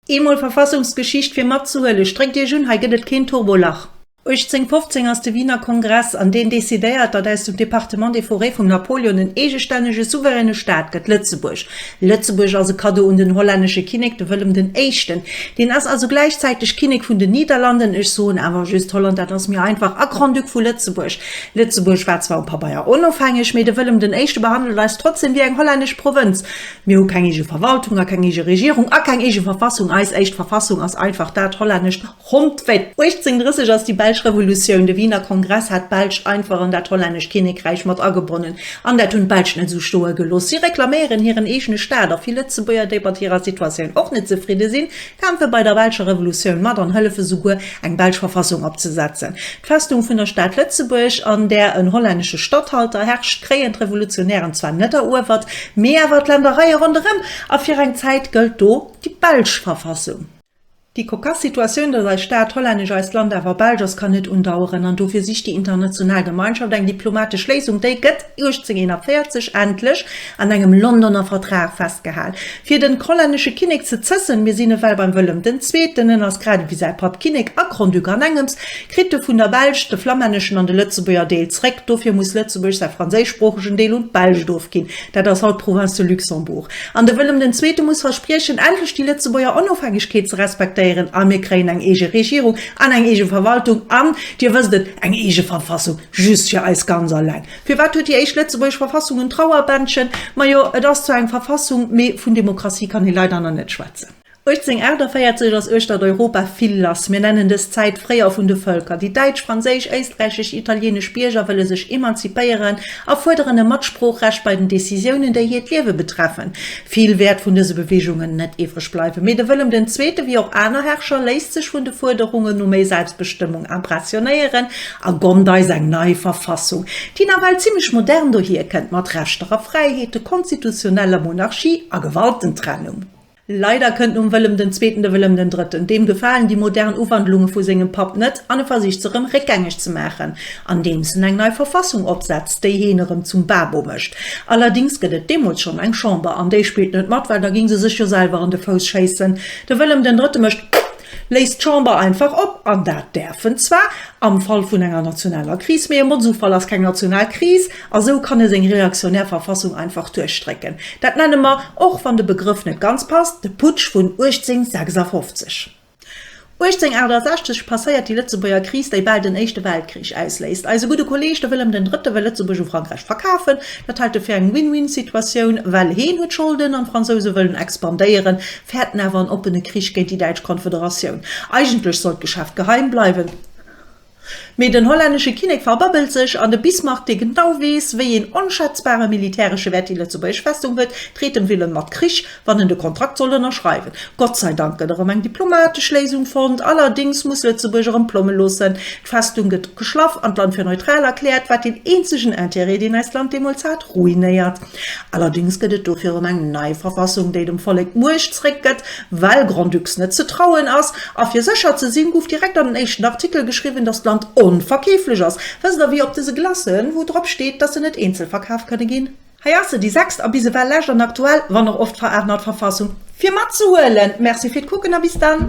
Eemol Verfassungsgeschicht fir matzehuelen. Stréckt iech un, hei gëtt et keen Turbolach. 1815 ass de Wiener Kongress an deen decidéiert, datt aus dem Département des Forêts vum Napoléon en eegestännege souveräne Staat gëtt, Lëtzebuerg. Lëtzebuerg ass e Cadeau un den hollännesche Kinnek, de Wëllem den Éischten. Deen ass also gläichzäiteg Kinnek vun den Niederlanden, ech soen awer just Holland, dat ass méi einfach, a Grand-Duc vu Lëtzebuerg. Lëtzebuerg war zwar um Pabeier onofhängeg, mee de Wëllem den Éischte behandelt eis trotzdeem wéi eng hollännesch Provënz. Mir hu keng eege Verwaltung a keng eege Regierung a keng eege Verfassung. Eis éischt Verfassung ass einfach dat hollännescht. Ronn 1830 ass déi Belsch Revolutioun, de Wiener Kongress hat d'Belsch einfach an dat Hollännescht Kinnekräich mat agebonnen, an dat hunn d'Belsch net esou stoe gelooss. Si reklaméieren hiren eegene Staat, a vill Lëtzebuerger, déi mat hirer Situatioun och net zefridde sinn, kämpfe bei der Belscher Revolutioun mat an hëllefe souguer, eng belsch Verfassung opzesetzen. D'Festung vun der Stad Lëtzebuerg, an där en hollännesche Statthalter herrscht, kréien d'Revolutionären zwar net eruewert, mee awer d'Ländereie ronderëm, a fir eng Zäit gëllt do déi belsch Verfassung. Déi kokass Situatioun, dass eis Stad Hollännesch, eist Land awer Belsch ass, kann net undaueren an dofir sicht déi international Gemeinschaft eng diplomatesch Léisung. Déi gëtt 1841 endlech an engem Londoner Vertrag festgehal. Fir den hollännesche Kinnek ze zëssen, mir sinn ewell beim Wëllem den Zweeten, en ass grad ewéi säi Papp Kinnek a Grand-Duc an engems, kritt e vun der Belsch de flammänneschen an de lëtzebuerger Deel zréck. Dofir muss Lëtzebuerg säi franséischsproochegen Deel un d'Belsch ofginn. Dat ass haut d'Province de Luxembourg. An de Wëllem den Zweete muss verspriechen, endlech déi Lëtzebuerger Onofhängegkeet ze respektéieren, a mir kréien eng eege Regierung an eng eege Verwaltung an, Dir wësst et, eng eege Verfassung, just fir eis ganz alleng. Firwat huet déi éischt lëtzebuergesch Verfassung en Trauerbändchen? Majo, et ass zwar eng Verfassung, mee vun Demokratie kann ee leider nach net schwätzen. 1848 ass uechtert Europa vill lass, mir nennen dës Zäit Fréijoer vun de Vëlker. Déi däitsch, franséisch, éisträichesch, italienesch Bierger wëlle sech emanzipéieren a fuerderen e Matsproochrecht bei den Decisiounen, déi hiert Liewe betreffen. Vill wäert vun dëse Beweegungen net iwwreg bleiwen, mee de Wëllem den Zweete, wéi och aner Herrscher, léisst sech vun de Fuerderungen no méi Selbstbestëmmung impressionéieren a gonnt eis eng nei Verfassung, déi nawell zimmlech modern dohierkënnt, mat Rechter a Fräiheeten, konstitutioneller Monarchie a Gewaltentrennung. Leider kënnt nom Wëllem den Zweeten de Wëllem den Drëtten. Deem gefalen déi modern Uwandlunge vu sengem Papp net an e versicht se rëm réckgängeg ze maachen, andeems en eng nei Verfassung opsetzt, déi heen erëm zum Babo mécht. Allerdings gëtt et deemools schonn eng Chamber, an déi spillt net mat, well da géing se sech jo selwer an de Fouss schéissen. De Wëllem den Drëtte mécht Léist d'Chamber einfach op, an dat däerf en zwar am Fall vun enger nationaler Kris, mee e Motzufall ass keng national Kris, a sou kann e seng reaktionär Verfassung einfach duerchdrécken. Dat nenne mer, och wann de Begrëff net ganz passt, de Putsch vun 1856. 1868 passéiert déi Lëtzebuerger Kris, déi bal den Éischte Weltkrich ausléist. Eise gudde Kolleeg, de Wëllem den Drëtte, wëll Lëtzebuerg u Frankräich verkafen. Dat hält e fir eng Win-Win-Situatioun, well heen huet Scholden an d'Fransouse wëllen expandéieren, fäerten awer en oppene Krich géint déi däitsch Konfederatioun. Eigentlech sollt d'Geschäft geheim bleiwen, mee den hollännesche Kinnek verbabbelt sech, an de Bismarck, dee genau weess, wéi een onschätzbare militäresche Wäert déi lëtzebuergesch Festung huet, dreet dem Wilhelm mat Krich, wann en de Kontrakt soll ënnerschreiwen. Gott sei Dank gëtt erëm eng diplomatesch Léisung fonnt, allerdéngs muss Lëtzebuerg erëm d'Plomme loossen. D'Festung gëtt geschlaff an d'Land fir neutral erkläert, wat deen eenzegen Intérêt, deen eist Land deemools hat, ruinéiert. Allerdéngs gëtt et do virum eng nei Verfassung, déi dem Vollek d'Muecht zréck gëtt, well Grand-Ducs net ze trauen ass. A fir sécher ze sinn, guff direkt an den éischten Artikel geschriwwen, dass d'Land onverkeeflech ass. Wësst der wéi op dëse Glacen, wou drop steet, dass se net eenzel verkaf kënne ginn? Hei ass se, déi sechst a bis ewell lescht an aktuell, wann och oft veraarnert Verfassung, fir mat ze huelen. Merci fir d'Kucken a bis dann.